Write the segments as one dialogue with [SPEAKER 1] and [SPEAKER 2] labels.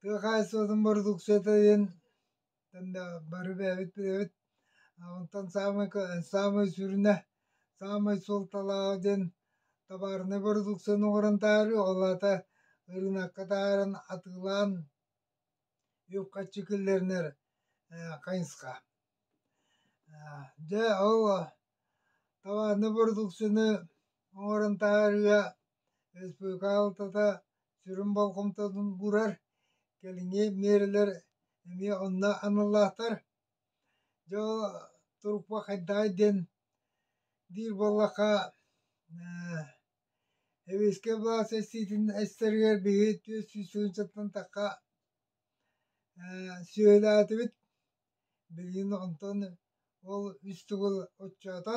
[SPEAKER 1] Тыа хаһаайыстыбатын бородууксуйата диэн бары бэйэбит билэбит онтон саамай саамай сүрүнэ саамай суолталааҕа диэн табаарынай бородууксуйаны оҥорон таһаарыы ол аата ырыынакка таһааран атыылаан үп-харчы киллэринэр хайысха дьэ ол табаарынай бородууксуйаны оҥорон таһаарыыга Республикаҕа сүрүн болҕомтотун уурар, кэлиҥҥи миэрэлэр эмиэ онно аналлаахтар. Дьэ ол турукпа хайдаҕый диэн диир буоллахха Эбиэскэй былаас эстиитин эстэригэр биһи түөрт сүүс тыһыынчаттан тахха сүөһүлээтибит. Билигин онтон ол үс төгүл оччоото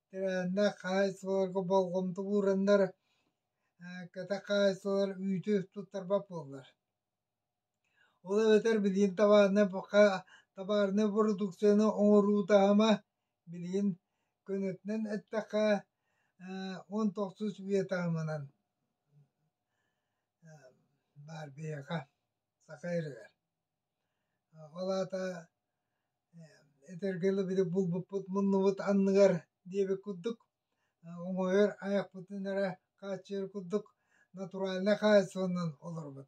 [SPEAKER 1] Тирээннэр хаһаайыстыбаларга болҕомто уураннар, кэтэх хаһаайыстыбалар үүтү туттарбат буоллар. Ол эбэтэр билигин табаарынай табаарынай бородууксуйаны оҥоруу таһыма билигин көнөтүнэн эттэххэ он тохсус үйэ таһымынан баар биһиэхэ Саха РР Ол аата этэргэ дылы булбуппут муннубут анныгар диэбит курдук омойор айахпытын эрэ хааччыйар курдук натуральнай хаайсанан олорбут.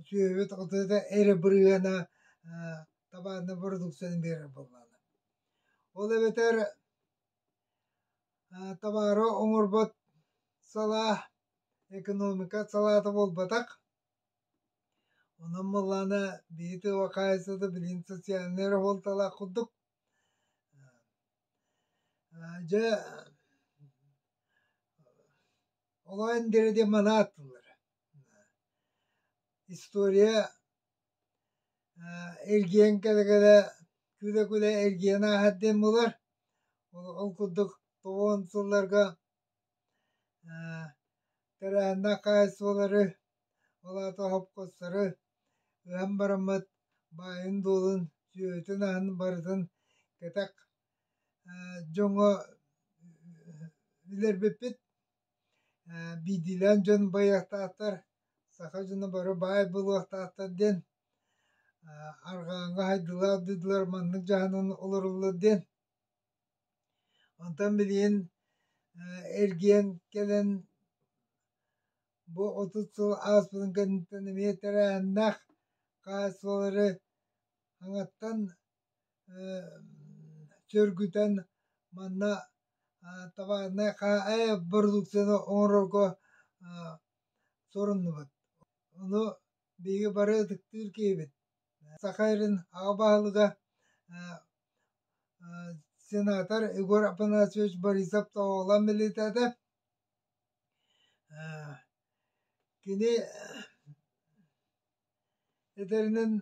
[SPEAKER 1] Сүөһүбүт отута эрэ бырыһыана табааннай бородууксуйаны биэрэр буоллаҕына. Ол эбэтэр табаары оҥорбот салаа экономика салаата буолбатах Онон буоллаҕына биһи тыва хаайсата билигин социальнай раболталаах курдук дьэ олох эн диэри диэн манаа аттыллар история эргийэн кэлэ-кэлэ күлэ-күлэ эргийэн ааһар диэн буолар ол курдук тобуон сылларга Тэрээһиннээх хаһаайыстыбалары, ол аата оһопкостары ыһан бараммыт, баайын-дуолун, сүөһүтүн аһын барытын кэтэх дьоҥҥо билэрбиппит. Биирдиилээн дьон байыахтаахтар, саха дьоно бары баай буолуохтаахтар диэн арҕааҥҥы хайдылаах дойдулар маннык дьаһанан олороллор диэн Онтон билигин эргийэн кэлэн бу отут сыл ааспытын кэнниттэн эмиэ тэрээһиннээх хаһаайыстыбалары хаҥаттан сөргүтэн манна товарнай продукцияны оҥорорго соруннубут. Ону биһиги бары ытыктыыр киһибит. Саха Сирин аҕа баһылыга сенатор Егор Афанасьевич Борисов тоҕолон милиитэтэ кини этэринэн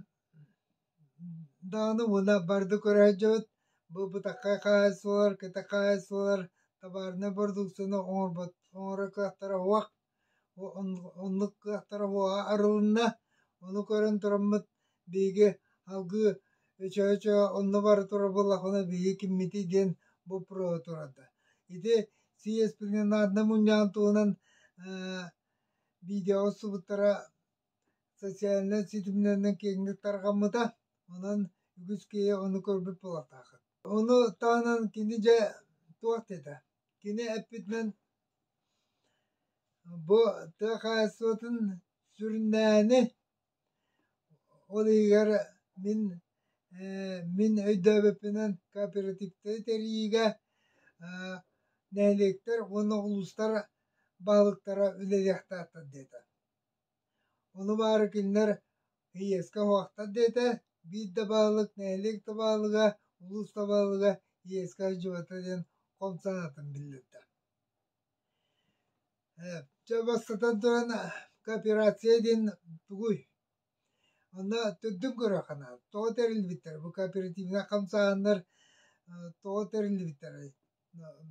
[SPEAKER 1] даҕаны уна барды көрө сылдьыбыт бу бытакка хаайсалар кэтэ хаайсалар табаарынай бородууксуйаны оҥорбот оҥоро кыахтара уһах Оннук кыахтара буоҕа арылынна. Ону көрөн тураммыт биһиги алгыы өчө-өчө онно бара турабыллахпына биһиги киммитий диэн боппуруоһа турарда. Ити сиэспининаарда мунньаан туһунан видеоҕа устубуттара социальнай ситимнэринэн киэҥник тарҕаммыта. Онон үгүс киһи ону көрбүт буолуохтааххыт. Ону таһынан кини дьэ туох диэтэ? Кини эппитинэн Бу тыа хаһаайыстыбатын сүрүннээһини, ол иһигэр мин ээ мин өйдөөбөппүнэн кооперативтары тэрийиигэ аа нэһилиэктэр уонна улуустар баһылыктара үлэлиэхтээхтэр диэтэ Ол баары кинилэр ИС-ка уһуохтар диэтэ, биир да баһылык нэһилиэк да баһылыга, улуус да баһылыга ИС-ка сдьыбыта диэн хом санаатын биллэрдэ. Э, Чэ, бастатан туран, кооперация диэн тугуй? Онно төрдүн көрүөххэ тоҕо тэриллбиттэр? Бу кооперативнай хамсааһыннар э, тоҕо тэриллбиттэрэй?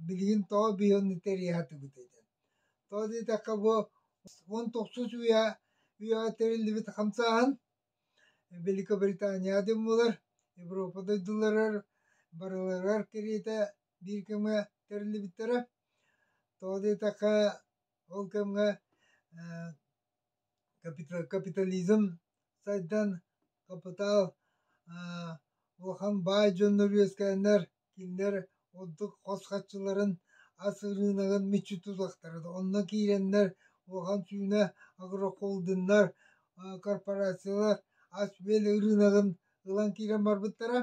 [SPEAKER 1] Билигин тоҕо биһиэхэ тэрийэхтибит Тоҕо диэтэххэ бу уон тохсус үйэ үйэҕэ тэриллибит хамсааһын Великобританияҕа булар, Европа дойдуларыгар барыларыгар кэриэтэ биир кэмҥэ тэриллибиттэрэ. Тоҕо диэтэххэ ол кэмҥэ Капитализм сайдан, хапытаал улахан баай дьоннор үөскээннэр кинилэр ордук хос хаччыларын ас ырыынагын мүччү тутуохтара да онно киирэннэр улахан сүүнэ агрохолдиннар корпорациялар ас-үөл ырыынагын ылан киирэн барбыттара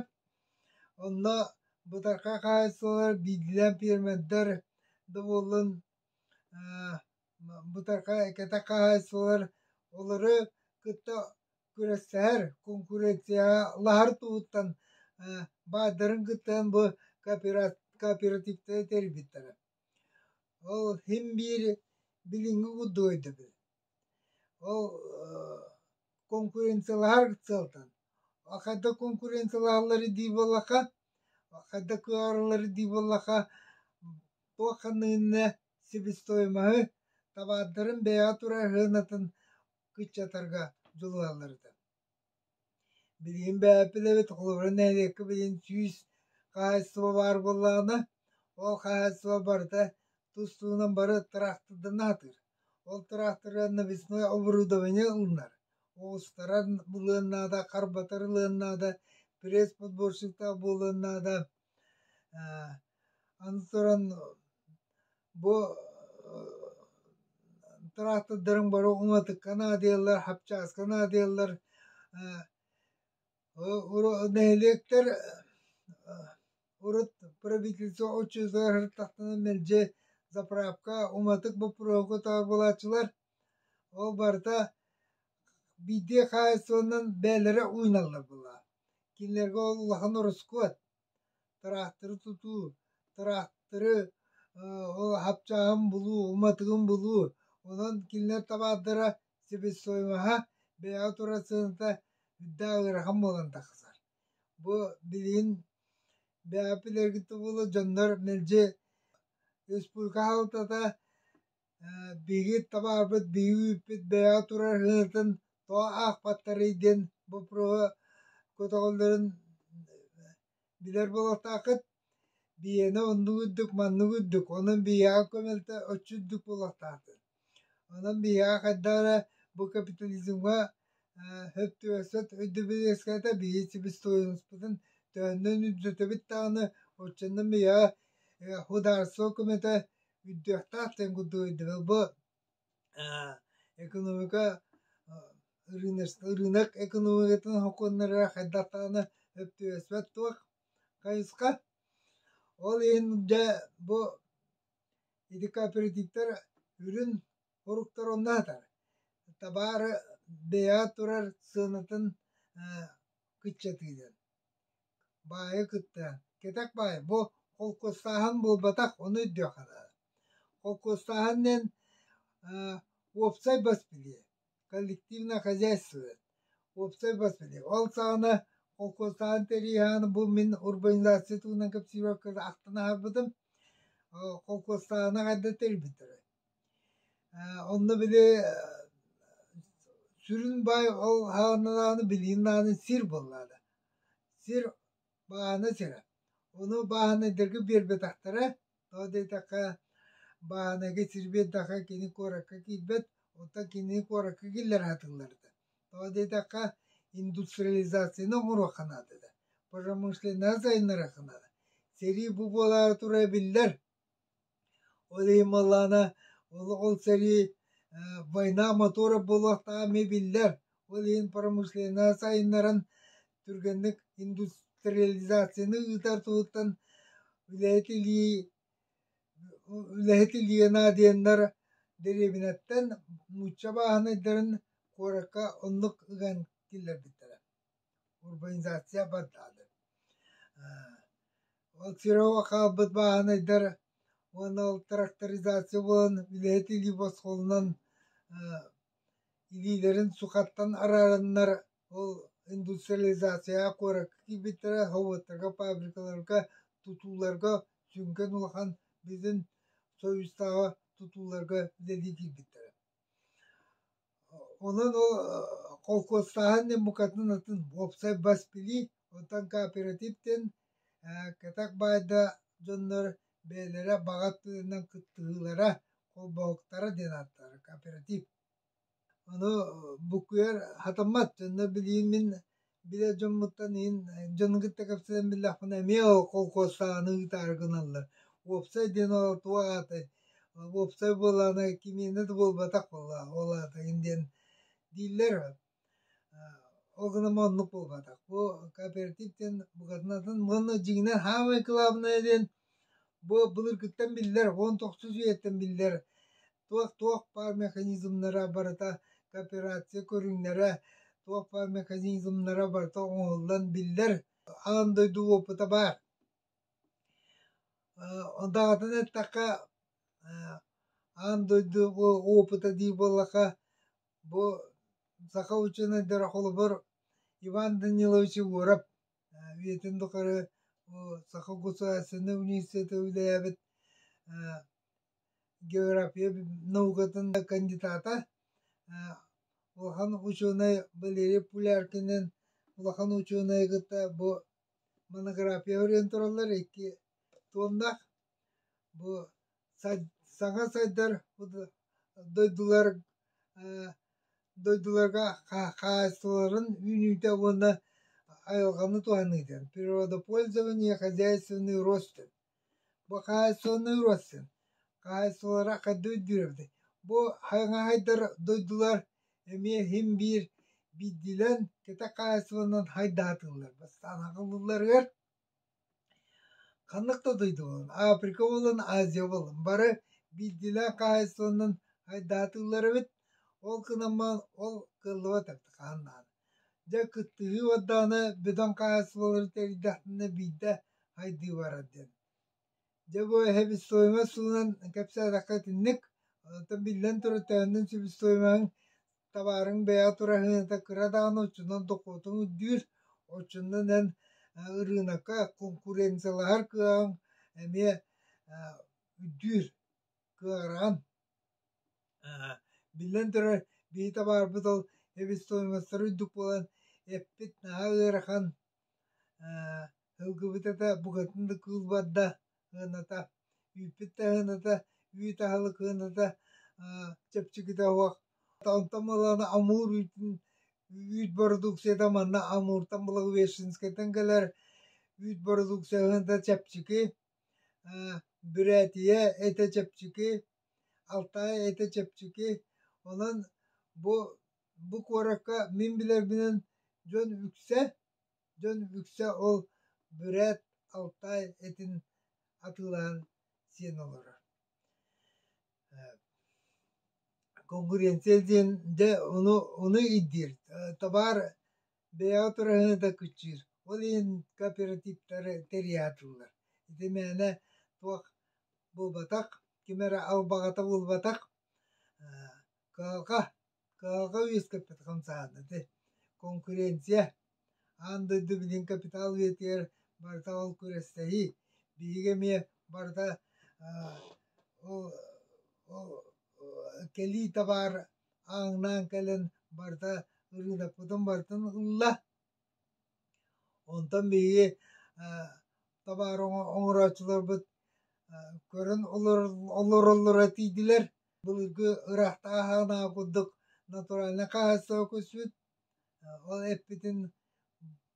[SPEAKER 1] онно бытархай хаһаайыстыбалар биирдиилээн пиэрмэрдэр да буоллун Бытархай кэтэх хаһаайыстыбалар олору кытта күрэстэһэр куонкуренциялаһар туһуттан баардарын кыттан бу кооперативтары тэрийбиттэрэ. Ол иһин биир билиҥҥи курдук өйдөбүл. Ол куонкуренциялаһар сыалтан. Хантан куонкуренциялаһаллар дии буоллахха да кыһаарыллар дии буоллахха туох ханныгынна себестоимоһы табаардарын бэйэҕэ турар сыанатын кыччатарга дьулуһаллар этэ билигин бээпилэбит холобура нэһилиэккэ билигин сүүс хаһаайыстыба баар буоллаҕына ол хаһаайыстыба барыта тус туһунан бары тыраахтырдана сатыыр ол тыраахтыры весной оборудование ылынар Уустаран булуон наада, харбатар ылыан наада, пресс-подборщиктаах буолуон наада. Аны туран бу тыраахтардарыҥ бары уҥатыкка наадыйаллар, хапчааска наадыйаллар. Нэһилиэктэр урут правительство очередьлар тахтанан мэлдьи заправка, уматык боппуруоһу талбылааччылар Ол барыта биирдии хаһаайыстыбаннан бэйэлэрэ ууйналлар буоллаҕа. Кинилэргэ ол улахан ороскуот. Тыраахтары тутуу, тыраахтары ол хапчааҕын булуу, уматыгын булуу. Онон кинилэр табаардара себестоимоһа бэйэҕэ турар сыаната үрдэ ыарахан буолан тахсар. Бу билигин бэйэҕэ билэргит да буоллар дьоннор мэлдьи республика хаалтата Биһиги табаарбыт биһиги үүппүт бэйэҕэ турар ырыатын тоҕо аахпаттарый диэн боппуруоһу көтөҕөллөрүн билэр буолуохтааххыт. Биһиэнэ оннук үрдүк маннык үрдүк онон биһиэхэ көмөлтө оччо үрдүк буолуохтаахтыт. Онон биһиэхэ хайдах эрэ бу капитализмҥа сөп түбэспэт өйдөбүл үөскээтэ биһиги себестоимостпытын төһөннөн үрдүтэбит даҕаны оччонон биһиэхэ судаарыстыба көмөтө Үттүөхтээх тенгуту өйдөбөлбөт экономика ырыынак экономикатын хокуоннара хайдах даҕаны өптүөспэт туох хайысха ол иһин дьэ бу ити кооперативтар үрүн оруктар онно сатар табаары бэйэ турар сыанатын кыччатыынан Баайа кыттыа, кэтэх баай, бу холкуостааһын буолбатах, ону өйдүөххэ наада. Холкуостааһын диэн аа, уопсай бас билиэ, коллективное хозяйство. Уопсай бас билиэ. Ол саҕана холкуостааһын тэрийэһэҕин бу мин урбанизация туһунан кэпсиибэр ахтан аһарбытым. Холкуостааһыны хайда тэрийбиттэрэ. Ээ онно били сүрүн баай ол ааннааны билиин аанын сир буоллаҕына. Сир бааһына сирэ. Ону бааһынайдарга биэрбэтэхтэрэ. Тоҕо диэтэххэ бааһынайга сир биэрдэххэ кини куоракка киирбэт, оттон кини куоракка киллэр аһатылларыта. Тоҕо диэтэххэ индустриализацияны оҥоруохха наада да, промышленнай сайыннарыахха наада. Сэрии бу буолаары тура биллэр. Ол иһин буоллаҕына олоҕун сэрии война мотуора буолуохтааҕа эмиэ биллэр. Ол иһин промышленнай сайыннаран түргэнник индустриализацияны ыытар туһуттан үлэһит илии үлэһит илиэ наадыйаннар дэриэбинэттэн нуучча бааһынайдарын куоракка оннук ыган киллэрбиттэрэ урбанизация бардаатын. Ол Кирово хаалбыт бааһынайдар уонна ол тракторизация буолан үлэһит илии босхолунан илиилэрин сухаттан араарыннар ол индустриализацияҕа куоракка киирбиттэрэ һовуттарга фабрикаларга тутууларга сүҥкэн улахан бизин совестааҕа тутууларга үлэлии киирбиттэрэ Онон ол холкуостааһын диэн букатын атын уопсай бас билии, онтон кооператив диэн кэтэх баайда дьоннор бэйэлэрэ баҕа өттүнэн кыттыһыылара, холбоһуктара диэн ааттаабыт кооператив. Ону букуйар хатыммат, дьонно билиин мин Билэр дьоммуттан иһин дьону кытта кэпсэтэн биллэхпинэ эмиэ колхозтааны ыытаары гыналлар. Уопсай диэн ол туох аата уопсай буолаана кимиэнэ да буолбатах буоллаҕа ол аата иһин диэн дииллэр. Ол гынан оннук буолбатах. Бу кооператив диэн букатынатын уонна дьиҥинэн хаамай кылаабынайа диэн бу былыргыттан биллэр, уон тохсус үйэттэн биллэр туох-туох баар механизмнара барыта кооперация көрүҥнэрэ туох баар механизмнара барыта оҥоһуллан биллэр аан дойду уопута баар даҕатан эттэххэ аан дойду уопута дии буоллаха бу саха учуонайдара холобур Иван Данилович Егоров үйэтин тухары саха государственнай университета үлэлээбит география наукатын да кандидата, улахан учуонай Валерий Пуляркинын улахан учуонайы кытта бу монография ориентураллар икки туоннах бу саҥа сайдар дойдулар дойдуларга хаһаайыстыбаларын үүнүүтэ уонна айылҕаны туһаныыта, природопользование, хозяйственный рост Бу хаһаайыстыбаны ылбаккын, хаһаайыстыбалара хайдах өйдүүрүөбүтэй? Бу хаҥаһайдар дойдулар эмиэ син биир биирдиилэн кэтэх хаһаайыстыбанан хайдаатыллар. Бастаан ылылларыгар ханнык да дойду буолан, Африка буолан, Азия буолан, бары биирдиилээн хаһаайыстыбанан хайдаатыллар эбит. Ол гынан баран ол кыаллыбат эбит хаһан даҕаны. Дьэ, кыттыһыы уордаҕына бөдөҥ хаһаайыстыбалары тэрийдэхтэринэ биирдэ хайдыы барар диэн. Дьэ, бу себестоимость суунан кэпсээтэххэ итинник. Оттон биллэн турар төһөннөн себестоимоһыҥ табаарыҥ бэйэҕэ тураһыыната кыра даҕаны оччонон дохуотуҥ үрдүүр. Оччонон эн ырыынакка конкуренциялаһар кыаҕыҥ эмиэ үрдүүр кыаҕыраан Биллэн турар, биһиэхэ баарбыт ол эпистониеводтар үрдүк буолан, эппит наһаа ыарахан, ылгыбыт этэ, букатын да кыыл барда ыаната, үүппүт да ыаната, үүт аһылык ыаната, чэпчэкитэ оһох. Онтон балана амуур үүтүн, үүт бородууксуйата манна амууртан Благовещенскайтан кэлэр, үүт бородууксуйа ыһыната чэпчэки, бүрээтийэ этэ чэпчэки. Алтаай этэ чэпчэки, онон бу бу куоракка мин билэрбинэн дьон үксэ дьон үксэ ол бүрээт Алтаай этин атыылаһан сиэн олорор Конгуренция диэн дьэ ону ону ирдиир табаар бэйэҕэ тураһыны да кыччыыр ол иһин кооперативтары тэрийэ атыыллар ити мээнэ туох буолбатах ким эрэ албаҕата буолбатах кыһалҕа кыһалҕа үөскэппит хамсаһан ити конкуренция аан дойду билигин капитал үйэтигэр барыта ол күрэстэһии биһиги эмиэ барыта ол кэлии табаар ааҥнаан кэлэн барта ырыынакпытын бартын ылла онтон биһиги табаар оҥорооччуларбыт көрөн олороллоро тиийдилэр былыргы ыраахтан ааһаҕынааҕы курдук натуральнай хаһаайыстыба көспүт ол эппитин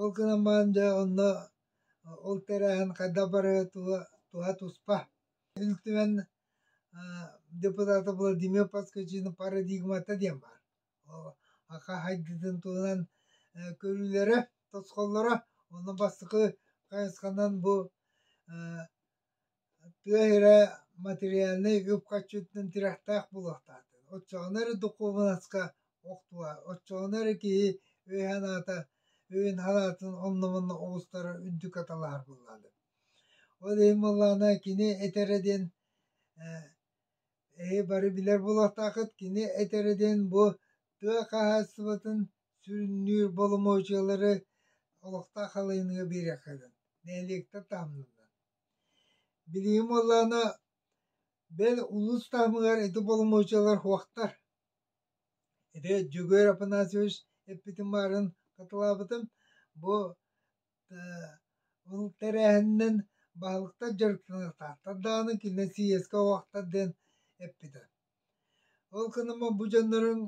[SPEAKER 1] Ол гынан баран дьэ онно ол тэрээһин хайдах барыа туһа туспа. Ил Түмэн депутата Владимир Подскочины парадигмата диэн баар. Ака хайдыытын туһунан көрүүлэрэ, тосхоллоро, онно бастакы хайысханан бу тыа иһирэ материальнай үп харчытынан тирэхтээх буолуохтаахтын оччоҕуна эрэ духуобунаска охтуо оччоҕуна эрэ киһи өй-санаата өйүн-санаатын онно-манна оҕустара үрдүк аталаһар буоллаҕына ол иһин буоллаҕына кини этэрэ диэн эһи бары билэр буолуохтааххыт кини этэрэ диэн бу тыа хаһаайыстыбатын Сүрүннүүр боломуочуйалары олохтоох халыйыныга биэриэххэ сөп. Нэһилиэктэр таһымнарынан. Билигин буоллаҕына, бэл улуус таһымыгар ити боломуочуйалар суохтар. Ити Дьөгүөр Афанасьевич эппитин баарын хатылаабытым. Бу ол тэрээһининэн баһылыктар дьарыктанатахтар даҕаны кинилэр сийиэскэ угахтар диэн эппитэ. Ол гынан бу дьоннорун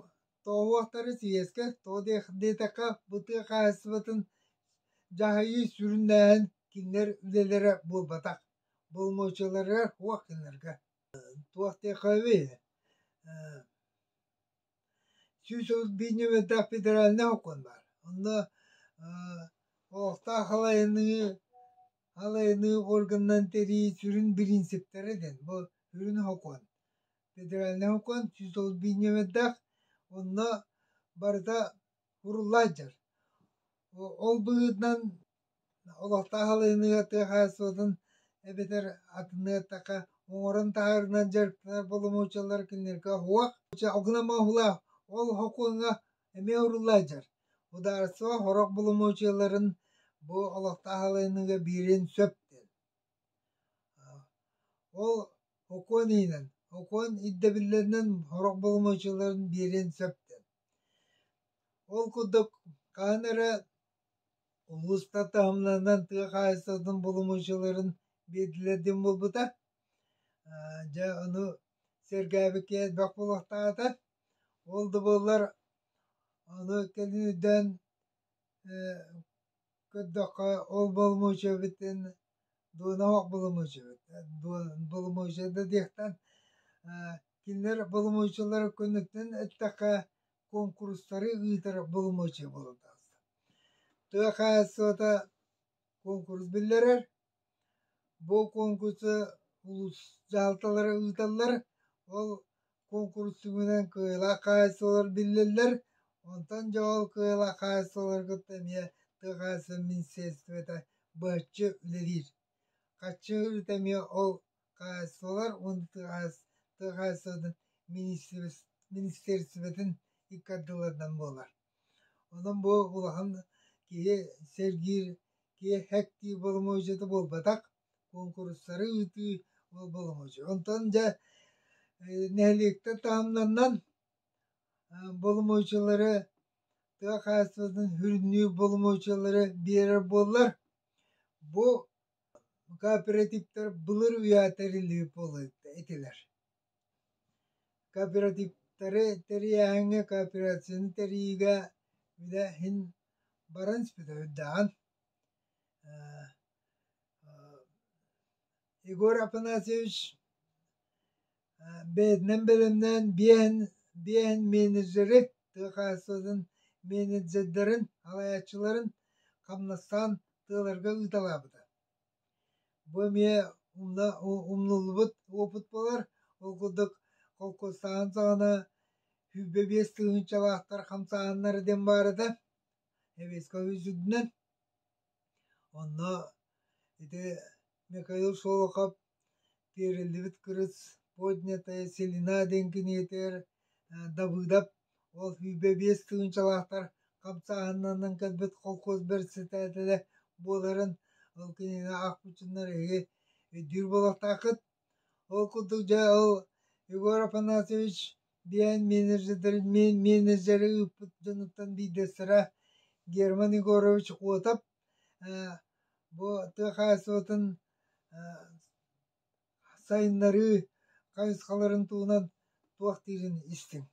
[SPEAKER 1] тоовуохтары сийиэскэ тоҕо диэтэххэ бу тыа хаһаайыстыбатын дьаһайыы сүрүннээһин кинилэр үлэлэрэ буолбатах боломуочаларыгар туох гынарга туох диэххэбий сүүс отут биир нүөмэрдээх федеральнай сокуон баар онно олохтоох халайыныы Халыыныы органынан тэрии сүрүн бириинсиптэрэ диэн бу сүрүн сокуон. Федеральнай сокуон сүүс тоҕус биинньэмэйдээх онно барыта уруллааччар. Ол быһыытынан олохтоох халыыныыга тыа хаһаайыстыбатын эбэтэр атыннык эттэххэ оҥорон таһаарынан дьарыктанар боломуочалар кинилэргэ уһуох, алгынамалаах ол сокуоҥҥа Эмиэ урулла илдьэр. Ударство сорох боломуочуйаларын бу олохтоох аһылыһыныыга биирин сөп диэн. Ол окуон иһинэн, окуон ирдэбиллэринэн сорох боломуочуйаларын биэриэн сөп диэн. Ол курдук, хаһан эрэ улуустар таһымнарынан тыа хаһаайыстыбатын боломуочуйаларын биэрдилэр диэн буолбута. Дьэ, ону сэргээбиккэ элбэх буолуохтаах этэ. Ол да буоллар аны кэлиниттэн көрдөххө ол боломуочуйабытын дуона оһох боломуочуйабыт боломуочуйа да диэхтэн кинилэр боломуочуйалара кэнниттэн эттэххэ куонкурустары ыытар боломуочуйа буолан таҕыста тыа хаһаайыстыбата куонкурус биллэрэр Бу куонкурса улуус дьаһалталара ыыталлар, ол куонкурус түмүгүнэн кыайылаах хаһаайыстыбалар биллэллэр, онтон дьоол кыайылаах хаһаайыстыбаларга эмиэ тыа хаһаайыстыбатын министерствота быһаччы үлэлиир. Хаччыырыта эмиэ ол хаһаайыстыбалар уонна тыа хаһаайыс- тыа хаһаайыстыбатын министерс- министерствотын икки ардыларынан буолар. Онон бу улахан киһи сэргиир, киэһэктии боломуочуйата буолбатах, куонкуруссары ыытыы ол боломуочуйа. Онтон дьэ нэһилиэктэр таһымнарынан боломуочуйалары тыа хаһаайыстыбатын сүрүннүүр боломуочуйалары биэрэр буоллар, бу кооперативтар былыр үйэ тэриллибит буолла этилэр. Кооперативтары тэрийээһиҥҥэ кооперацияны тэрийиигэ идэ иһин баран сүбэһэйдээн Егор Афанасьевич бэйэтинэн бэлэмнээн биэһин биэһин менеджеры тыа хаһаайыстыбатын менеджердэрин салайааччыларын хамнастаан тыаларга ыыталаабыта Бу эмиэ умна умнуллубут уопут буолар. Ол курдук холкуостааһын саҕана сүүрбэ биэс тыһыынчалаахтар хамсааһыннара диэн баар этэ Советскай үрдүнэн. Онно ити Михаил Шолохов Тиэриллибит кырыс поднятая селена диэн киниэтигэр Давыдов Ол сүүрбэ биэс тыһыынчалаахтар хамсааһыннарынан кэлбит холкуос бэрэссэдээтэлэ буоларын ол кинигэ аахпыччыннар үһү өйдүүр буолуохтааххыт. Ол курдук дьэ ол Егор Афанасьевич диэн менеджердэрин менеджери ыыппыт дьонуттан биирдэстэрэ Герман Егорович Котов бу тыа хаһаайыстыбатын Сайыннарыы хайысхаларын туһунан туох диирин
[SPEAKER 2] истиҥ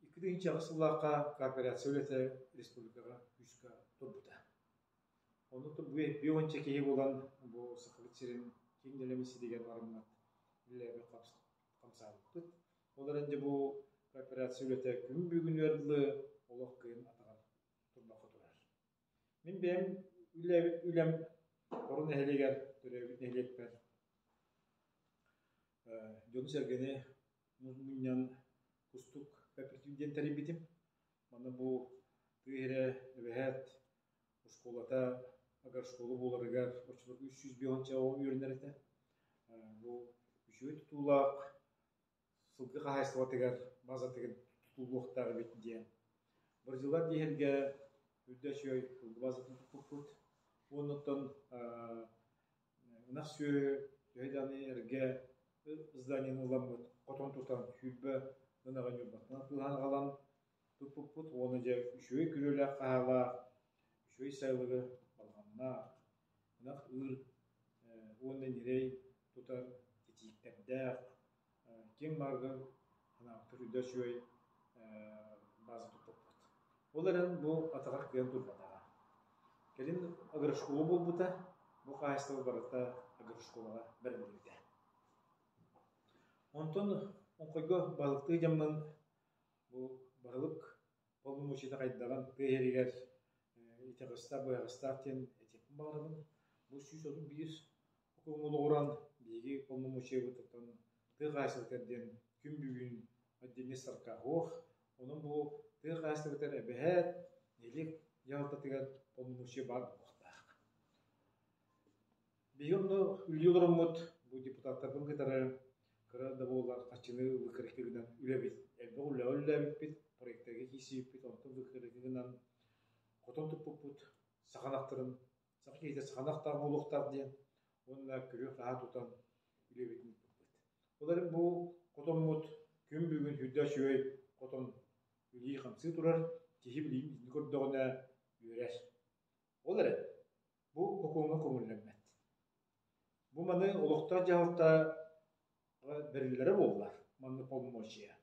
[SPEAKER 2] Икки тыһыынча аҕыс сыллаахха корпорация үлэтэ республикаҕа күүскэ турбута. Оннуктан биир уонча киһи буолан бу Сахабыт сирин киин нэлэмисситигэр барыммыт үлэлээбит хамсаабыппыт. Ол эрэн дьэ бу корпорация үлэтэ күн бүгүнүгэр дылы олох кыайан атаҕар турбакка турар. Мин бэйэм үлэм Орун нэһилиэгэр төрөөбүт нэһилиэкпэр дьону-сэргэни мунньан кустук кэпсиир диэн тэрийбитим. Манна бу тыа иһирэ эбэһээт оскуолата агрошкола буоларыгар оччолорго үс сүүс биэс оҕо үөрэнэр этэ. Бу үчүгэй тутуулаах сылгы хаһаайыстыбатыгар баазатыгар тутулуохтаах эбит диэн. Бразилар диэһэргэ үрдэ үчүгэй сылгы баазатын туппуппут. Оннуттан Ынах сүөһү төһө даҕаны эргэ зданиены ылламмыт хотон тутан сүүрбэ ынаҕы ньурбатынан атыылаһан аҕалан туппуппут уонна дьэ үчүгэй күрүөлээх хаһаалаах, үчүгэй сайылыгы балаҕаннаах, ынах ыыр уонна ньирэй тутар китииктэрдээх, ким барыбын анаабытын үрдэ үчүгэй база туппуппут. Ол эрэн бу атаҕар кыйан турбатаҕа. Кэлин агрошкола буолбута. Бу хаһаайыстыба барыта агрошколаҕа бэриллибитэ. Онтон онхойго балыктыы дьаммын бу барылык Ол мучита хайдаҕын, тыаһэригэр итаҕыстаах-быһаҕастаах диэн этиэхпин баҕарабын. Бу сүүс отут биир окуоҥҥа олоҕуран биһиги полномочиебытыттан тыа хаһаайыстыбатыгар диэн күн бүгүн отдельный саркофог, онон бу тыа хаһаайыстыбатыгар эбэһээт, нэһилиэк дьаһалтатыгар полномочие баар буолуохтаах. Биһиги онно үлүү олороммут бу депутаттарбын кытары кыра да буоллар хаччыны выкарыктыгынан үлэбит. Элбэх үлэҕэ үлэлээбиппит, проектарга киирсибиппит, онтон выкарыгынан хотон туппуппут саханахтарын саха киһитэ саханахтаах буолуохтаах диэн уонна көрүөх-таһаа тутан үлэбитин ыыппыппыт. Ол эрэн бу хотоммут күн бүгүн үрдэ үчүгэй хотон үлии-хамсыы турар, киһи билигин көрдөҕүнэ үөрэр. Ол эрэн Бу окуоҥҥа көҥүллэммэт. Бу маны олохтоох-дьаһалта бэриллэрэ буолла манна полномочия.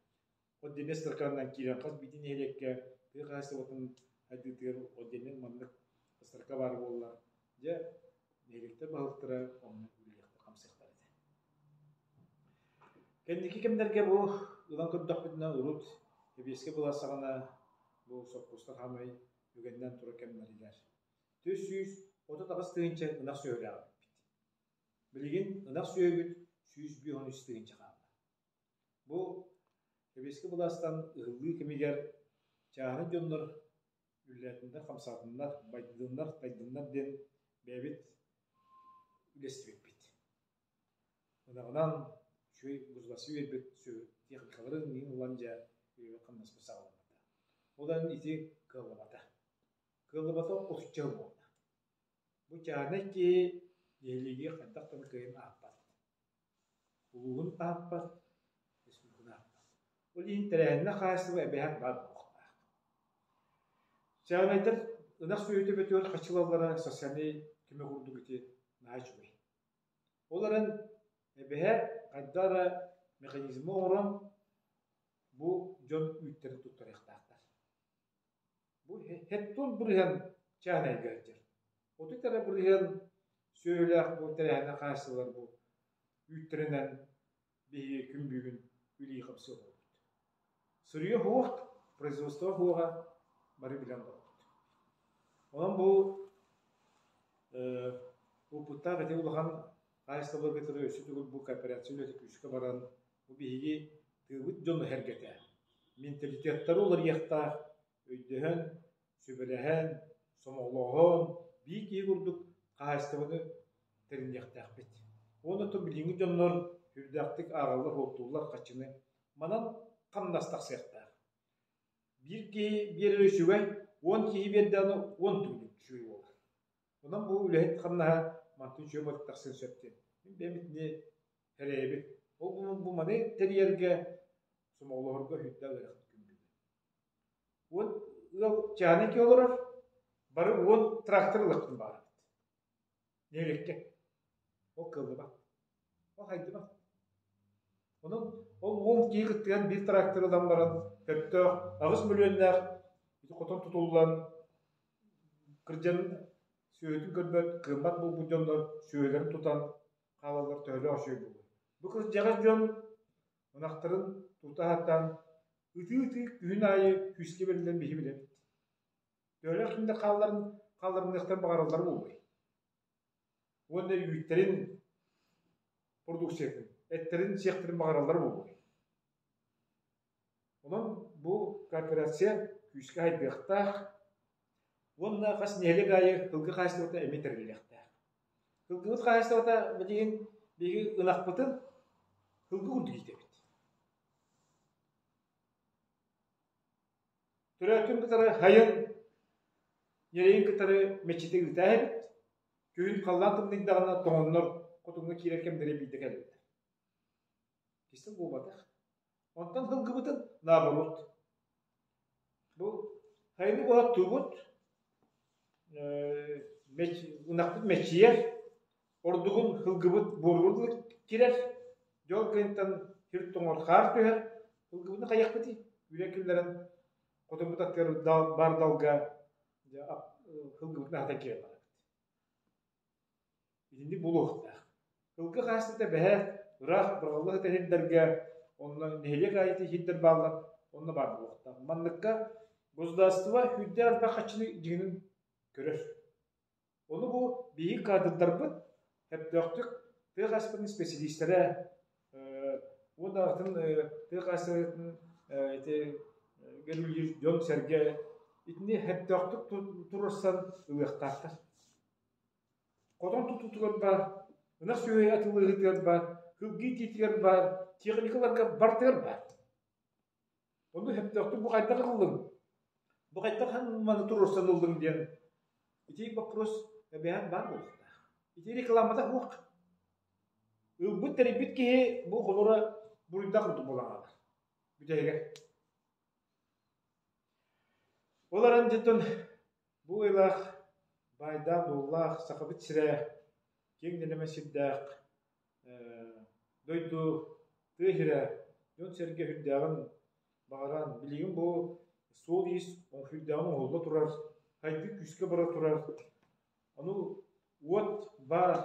[SPEAKER 2] Отдельнай стаканынан киирэн хас биитин нэһилиэккэ тыа хаһаайыстыбатын сайдыытыгар отдельнай маннык стака баар буолла. Дьэ, нэһилиэктэр баһылыктара онно үлэлиэхтэр, хамсыахтар этэ. Кэнники кэмнэргэ бу ылан көрдөхпүтүнэ урут Кэбиэскэ былассаҕана бу соппустар хамай үгэннэн тура кэмнэрилэр. түс сүүс отут аҕыс тыһыынча ынах сүөһүлээх эппит. Билигин ынах сүөһүбүт сүүс биир уон үс тыһыынча хаалла. Бу Кэбиэски былаастан ыһыллыы кэмигэр чааһынай дьоннор үллээтиннэр, хамсаатыннар, байдыннар, тайдыннар диэн бэйэбит үлэстибиппит. Ынаҕынан үчүгэй гуrzласы үербит техникаларын иин ылан дьэ үйэбит хамнаспыт саҕаламмыта. Одан ити кыаллабата. Кыаллыбатах охчо буолла. Бу чаанай киһи нэһилиэги хайдах да кыайан аахпат. Улууһун аахпат, республиканы аахпат. Ол иһин тэрээһиннэр хаачыстыба эбэһэр баар буолуохтаах. Чаанайдар ынах сүөһүтэ бөтөөр хачылаллара социальнай көмө курдук ити наһаа үчүгэй. Ол эрэн эбэһэр хайдах эрэ механизмы оҥорон бу дьон үүттэрин туттарыахтаахтар. Бу һэт тур бырыһан чаан эйгэ сылдьар. Отут эрэ бырыһыан сүөһүлээх бу тэрээһинэ хааччыллар бу үүттэринэн биһиги күн бүгүн үлии хапсыы буолбут. Суруйа суох, производство суоҕа бары билэн барбыт. Онон бу уопуттаах ити улахан хаачыстыбалар кытары өссө төгүл бу кооперация үлэтэ күүскэ баран Бу биһиги тыабыт дьон эһэргэтэ. Менталитеттары уларыйыахтаах, өйдөһөн, сүбэлэһэн, сомоҕолооһон биир киһи курдук хаһаайыстыбаны тэриниэхтээхпит. Уонна то билиҥҥи дьоннор сүрдээхтик ааҕаллар-суоттууллар хаччыны. Манан хамнас тахсыахтаах. Биир киһи биэрэр үчүгэй, уон киһи биэрдэҕинэ уон төгүл үчүгэй буолар. Онон бу үлэһит хамнаһа мантан үчүгэй тахсыан сөп диэн. Мин бэйэм итини Эрэйэбит. Ол бу маны тэрийэргэ сомоҕолоһорго хүндэ ылыахпыт күндүбүт. Уот ыал чааники олорор бары уон трактор ылыктын баар. Нелекке. Ол кылыба. Ол хайдыба. Онон ол уон киһи кыттыган биир трактор ылан баран көптөөх аҕыс миллионнаах хотон тутуллан кырдьан сүөһүтүн көрбөт кыыммат булбут дьоннор сүөһүлэрин тутан хаалаллар төһөлөөх үчүгэй буолуой бу кырдьаҕас дьон ынахтарын тута сатаан ытыы-ытыы күһүн аайы күүскэ бэриллэн биһи билэбит төһөлөөх киндэ хаалларын хаалларыныахтан баҕараллара буолуой уонна үүттэрин продукциятын эттэрин сиэхтэрин баҕараллара буолуой Онон бу корпорация күүскэ хайдыахтаах уонна хас нэһилиэк аайы кылгы хаһаайыстыбата эмиэ тэриллиэхтээх. Кылгыбыт хаһаайыстыбата билигин биһиги ынахпытын кылгы курдук иитэбит. Төрөөтүн кытары хайын, ньирэйин кытары мэччитэ ыытаа эбит. Күһүн халлаан тымныйдаҕына тоһоннор хотуҥҥа киирэр кэмнэрэ биирдэ кэлбиттэр. Кисэ буолбатах. Онтон сылгыбытын наоборот. Бу хайыны буһаттуубут ынахпыт мэчийэр, ордугун сылгыбыт буорула кирэр, дьол гынтан сир тоҥор хаар түһэр, сылгыбытын хайахпытый үрэ киллэрэн хотурбут аттыгар баар далга сылгыбытын аһатан киирэн барабыт. Итинник булуохтаах. Кылгы хаастыта бэһэ, ыраах бырҕаллах этэ иһирдэргэ, онно нэһилиэк аайыта иһирдэр бааллар, онно баар буолуохтаах. Манныкка государство күүрдээх-элбэх хаччыны дьиҥин көрөр. Ону бу биһиги каадырдарбыт сөптөөхтүк тыа хаастарын исписэлиистэрэ э, уонна атын э, тыа хаастарын э, ити дьон-сэргэ итини сөптөөхтүк туруорсан ылыахтаахтар. Хотон тутуутугар баар, ынах сүөһү атыылаһыытыгар баар, кылгыы итиитигэр баар, техникаларга бартыгар баар. Ону сөптөөхтүк бу хайдах ылыллыҥ? Бу хайдах маны туруорсан ыллыҥ диэн ити боппуруос эбээн баар буолуохтаах. Ити рекламата суох. Ылбыт тэрийбит киһи бу холура буруйдаах курдук буолан хаалар. Бүтэһигэр. Ол аран дьонтон Бу ыйылаах баайдаах-дуоллаах Сахабыт сирэ киэҥ нэлэмэ сирдээх дойду тыа иһирэ дьон-сэргэ үрдээҕин баҕаран, билигин бу суол-иис онкуйдааҕын оҥоһулла турар, хайдыы күүскэ бара турар, ону уот баар,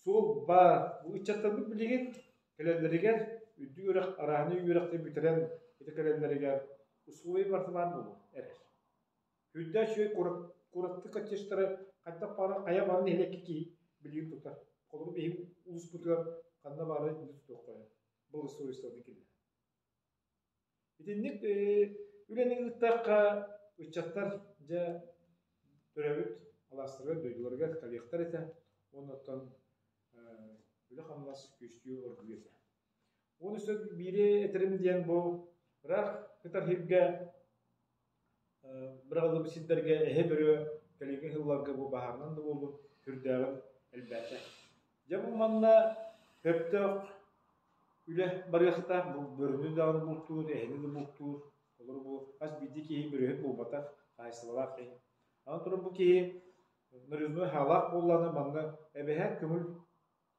[SPEAKER 2] суол баар, бу ыччаттарбыт билигин кэлэллэригэр үрдүк үрэх арааһынай үөрэхтэн бүтэрэн ити кэлэллэригэр усулуобуйа бартымаан буолуо эрэр. Үрдэ үчүгэй куорат куораттык кочежтары хайдах баара хайа баарын нэһилиэккэ киһи билии тутар. Холобур, биһиги улууспутугар ханна баара итинник тутуохха сөп. Благосовестовны кинилэр. Итинник үлэни ыыттахха ыччаттар дьэ төрөбүт алаастарыгар дойдуларыгар кэлиэхтэр этэ. Оннуттан үлэ-хамнас күстүү оргуйуо этэ. Уон үс сыл биири этэрим диэн бу ыраах кытарыһыырга, быраҕыллыбыт сирдэргэ эһэ бөрүө кэлиҥҥи сылларга бу баһаарынан да буолбут сүрдээҕин элбээтэ. Дьэ бу манна сөптөөх үлэ барыа сатаах, бу бөрүнү даҕаны бултуур, эһэни да бултуур, олору бу хас биирдии киһи бөрүөһүн булбатах, хаһаайыстыбалаах киһи. Аны туран бу киһи нарызнай хаалаах буоллаҕына манна эбэһэ көҥүл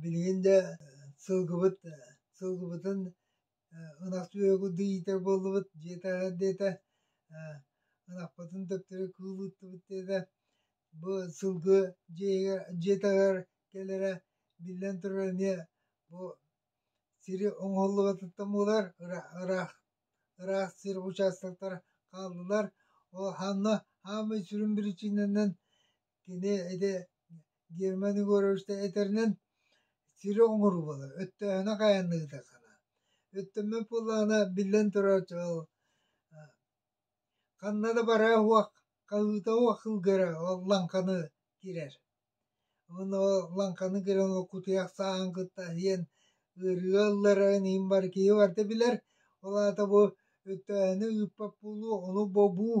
[SPEAKER 1] Билигин да сылгыбыт сылгыбытын ынах сүөһүгү иитэр буоллубут дьиэ таһыгар диэтэ ынахпытын төптөрү кыыл ыыттыбыт диэтэ бу сылгы дьиэҕэ дьиэ таһыгар кэлэрэ биллэн турар эмиэ бу сири оҥоһуллубатыттан буолар ыраах ыраах сир учаастактара хааллылар ол ханна хаамыы сүрүн биричиинэнэн Кини ити Герман Егорович да этэринэн сири оҥоруубала, өттөөһүнэ хайанныытахана. Өттөммөт буоллаҕына, биллэн турар, ол ханна да бараа уох, хаһыыта уох кылгыра ол лаҥханы кирэр. Уонна ол лаҥханы кирэн ол кутуйах сааһын кытта иһэн ыарыыга ылларан иһин бар киһи барда билэр. Ол аата бу өттөөһүнү ыыппат буолуу, ону бобуу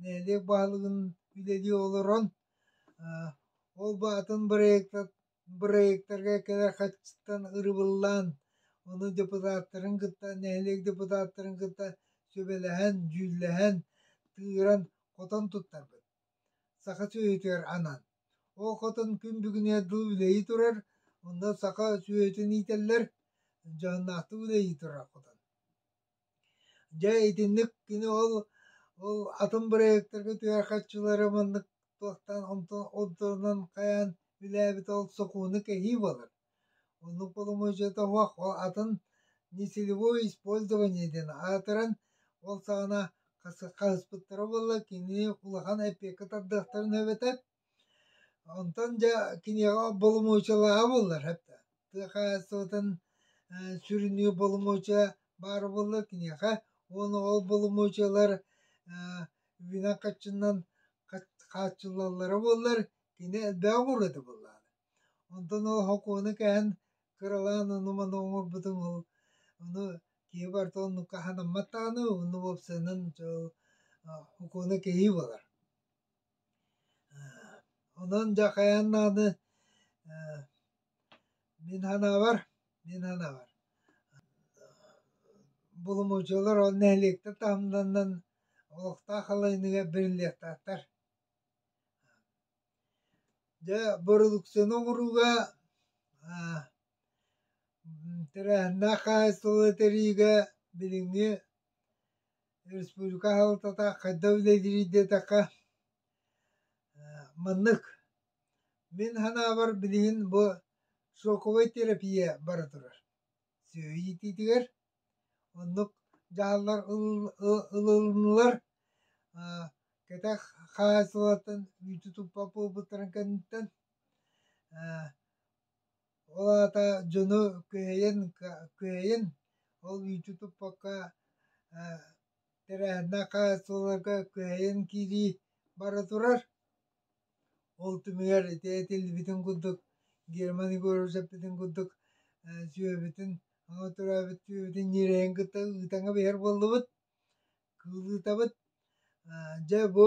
[SPEAKER 1] Нэһилиэк баһылыгын үлэлии олорон ол аатын бырайыактарга кэлэр харчыттан ырыбыллаан ону депутаттарын кытта нэһилиэк депутаттарын кытта сүбэлэһэн дьүүллэһэн тыыран хотон туттарбыт саха сүөһүтүгэр анан ол хотон күн бүгүнүгэр дылы үлэһии турар онно саха сүөһүтүн иитэллэр дьоһуннаахтык үлэлии турар хотон Дьэ итинник кини ол ол атын бырайыактарга түһэр харчылары маннык туохтаан онтунан хайаан үлээбитэ ол сокуону кэһии буолар. Оннук боломуочуйата суох ол атын несилевое использование диэн аатыран ол саҕана хаспыттара буолла кини улахан эпиэкэ тардыахтарын эбэтэр Онтон дьэ киниэхэ боломуочалааһа буоллар да тыа хаһаайыстыбатын сүрүннүүр боломуочуйа баара буоллар киниэхэ уонна ол боломуочуйалар үүнэн хаччыннан хааччыллаллара буоллар кини элбэҕи мурата буоллаҕына. Онтон ол сокуону кэһэн кыралаан ону-маны оҥорбутуҥ ол ону киһи барыта оннукка санаммат даҕаны онно уопсайынан сокуона кэһии буолар. Онон дьахайан даҕаны мин санаабар мин санаабар булумучулар ол нэһилиэктэр таһымнарынан олохтоох халлааныгар бэриллиэхтаахтар. Дьэ бородуксуйаны оҥорууга тэрээһиннээх хаһаайыстыба этэриигэ билиҥҥи республика аһалтата хайдах үлэлиир диэтэххэ маннык мин санаабар билигин бу шоковай терапия бара турар сүөһү иитиитигэр оннук дьаһаллар ылылыннылар кэтэх хаһаайыстыбалартан үүтү туппат буолбуттарын кэнниттэн Ол аата дьону күһэйэн күһэйэн ол мүччү туппакка ээ тэрээһиннээх хаһаайыстыбаларга күһэйэн киирии бара турар. Ол түмүгэр ити этиллибитин курдук Герман Егорович эппитин курдук ээ сүөһүбүтүн ама төрөөбүт сүөһүбүтүн ньирэйин кытта ыытаҥа биһэр буоллубут, кыыллыытабыт. Дьэ бу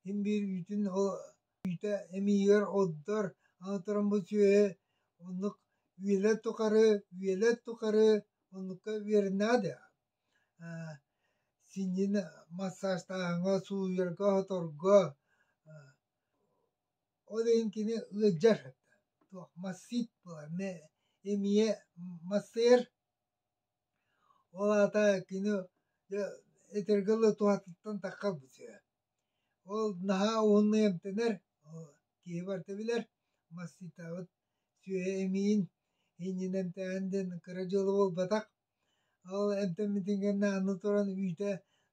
[SPEAKER 1] Син биир үүтүн оҕо үүтэ эмиийигэр оддор, аҥатыран бу сүөһү оннук үөлэ тухары, үөлэ тухары оннукка үөрэнээдэ. Э синньин массажтааһыҥҥа, сууйарга, оһоторго э ол иһин кини ыалдьар. Туох массыыт буолар эмиэ массыыр Ол аата кини итирги ылы туһатыттан таххарбыт үһү. Ол наһаа уһуннук эмтэнэр, киһи барыта билэр, массыытаабыт сүөһү эмиийин иннинэ эмтээһин диэн кыра дьыала буолбатах. Ол эмтэммитин кэннэ аны туран үүтэ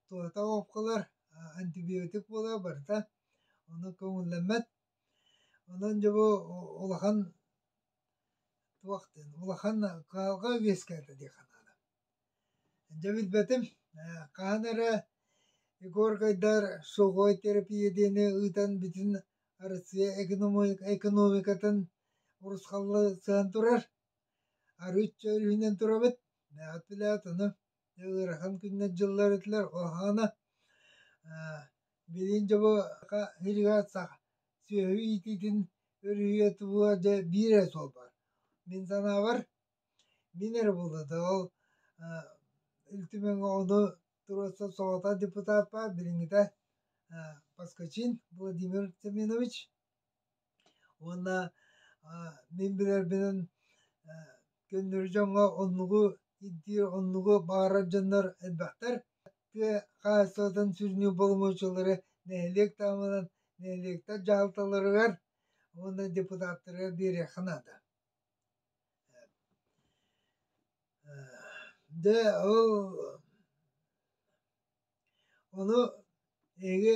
[SPEAKER 1] туһата оҕуопкалар, антибиотик буолар барыта, ону көҥүллэммэт. Онон дьэ бу улахан туох диэн улахан кыһалҕа үөскээтэ диэххэ наада. Дьэ билбэтим хаһан эрэ Егоргайдар суговой терапия диэни ыытан бүтүн Россия экономикатын урусхаллы сыһан турар арыычча өрүһүнэн турабыт. Мээхит билээт ону ыарахан күннэр дьыллар этилэр ол аана билин дьобо сүөһү иитиитин өрүһүйэ тубуа дьэ биир эрэ суолбар мин санаабар мин эрэ буолла да ол ил түмэн оҕону туруорса соҕотох депутаппар билиҥҥитэ поскачин владимир семенович уонна мин билэрбинэн көннөрү дьоҥҥо оннугу ирдиир оннугу баҕарар дьоннор элбэхтэр тыа хаһаайыстыбатын сүрүнү боломуочулары нэһилиэк таһымынан нэһилиэктэр дьаһалталарыгар уонна депутаттарыгар биэриэххэ наада дэ ол ону эһиги